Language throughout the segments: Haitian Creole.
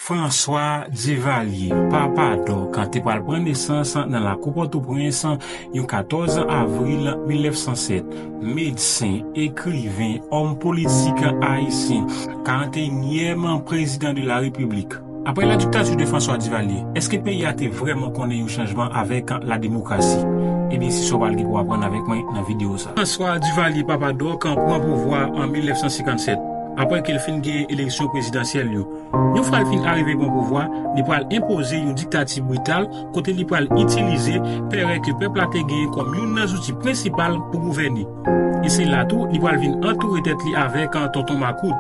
François Duvalier, papa Doc, te pral pran nesans nan lakou Pòtoprens yon 14 avril 1907. Medsen, ekriven, òm politik ayisyen, 41 nyèm prezidan de la Repiblik. Aprè la diktati de François Duvalier, èske peyi a te vrèman konnen yon chanjman avèk la demokrasi? Ebyen se sa w pral gen pou aprann avèk mwen nan videyo sa. François Duvalier, papa Doc, pran pouvwa an 1957. Apre ke l fin genyen eleksyon prezidansyèl yo, yon fwa l fin arive pran pouvwa, li pral enpoze yon diktati brital kote li pral itilize pèrè ke pèp la te genyen kòm youn nan zouti prensipal pou gouvène. E se la tou li pral vin antoure tèt li avèk tonton makout,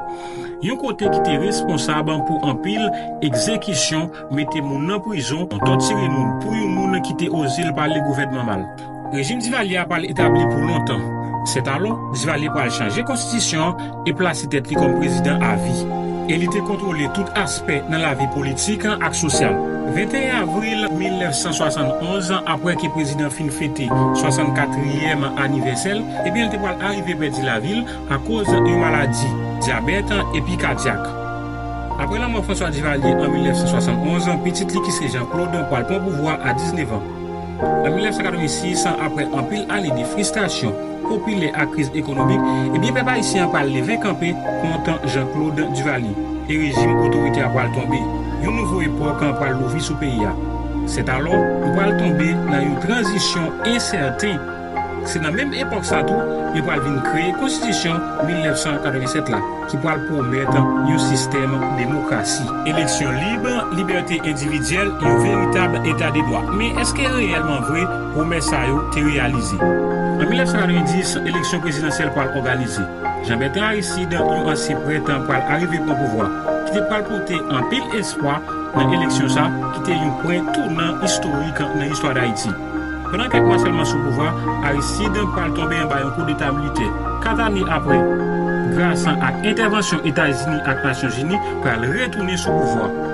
yon kote ki te responsab pou anpil egzekisyon, mete moun nan prizon, tòtire moun pou yon moun ki te oze l pale gouvènman mal. Rejim Divalye a pral etabli pou lontan. Sètalò, Divalye pral chanje konstitisyon an e plase tèt li kòm prezidan avi. E li te kontwole tout aspè nan lavi politik ak sosyal. 21 avril 1971, apre ke prezidan fin fete 64 trièm anivèsè l, ebyen li te pral arive pèdi lavi l akoz yon maladi, dyabèt epi kadyak. Apre lanmò François Duvalier an 1971, pitit li ki se Jean Claude pral pran pouvwa a 19 an. Nan 1986, apre anpil ane de fristasyon popilè ak kriz ekonomik, ebyen pèp ayisyen an pral leve kanpe kont Jean-Claude Duvalier e rejim otoritè a pral tonbe. Yon nouvo epòk pral louvri sou peyi a. Sètalò, nou pral tonbe nan yon tranzisyon ensèten. Se nan menm epòk sa tou yo pral vin kreye konstitisyon 1987 la ki pral pwomèt yon sistèm demokrasi, eleksyon lib, libète endividyèl, yon veritab eta de dwa. Men èske reyèlman vre pwomès sa yo te reyalize? An 1990, eleksyon prezidansyèl pral òganize. Jean Bertrand Aristide, yon ansyen prèt pral arive pran pouvwa, ki te pral pote anpil espwa nan eleksyon sa ki te yon pwen tounan istorik nan istwa Dayiti. Pandan kèk mwa sèlman sou pouvwa, Aristide pral tonbe anba yon koudeta militè. Kat ane apre, Graçan ak entèvansyon Etazini ak Nasyonzini pral retounen sou pouvwa.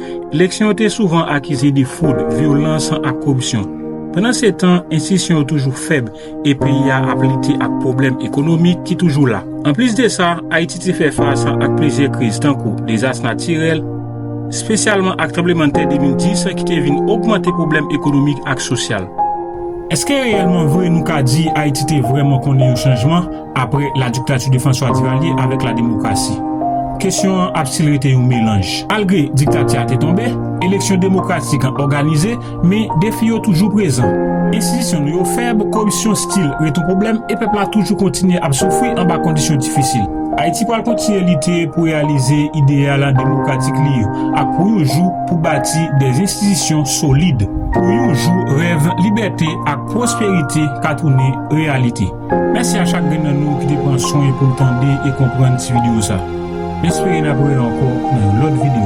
Eleksyon yo te souvan akize de fwod, vyolans ak koripsyon. Pandan se tan, enstitisyon yo toujou fèb e peyi a ap lite ak pwoblèm ekonomik ki toujou la. Anplis de sa, Ayiti te fè fas ak plizyè kriz tankou dezas natirèl, spesyalman ak tranblemann tè 2010 ki te vin ogmante pwoblèm ekonomik ak sosyal. Eske reyèlman vre nou ka di Ayiti te vrèman konnen yon chanjman? Apre la diktati de François Duvalier avèk la demokrasi, kesyon an ap stil rete yon melanj. Malgre diktati a te tonbe, eleksyon demokratik an òganize, men defi yo toujou prezan. Enstitisyon nou yo fèb, koripsyon stil ret yon pwoblèm e pèp la toujou kontinye ap soufri anba kondisyon difisil. Ayiti pral kontinye lite pou reyalize ideyal demokratik li yo ak pou yon jou pou bati de enstitisyon solid, pou yon jou rèv libète ak pwosperite ka tounen reyalite. Mèsi a chak grenn nan nou ki te pran swen pou l tande e konprann ti video sa. M espere n ap wè ankò nan yon lòt video.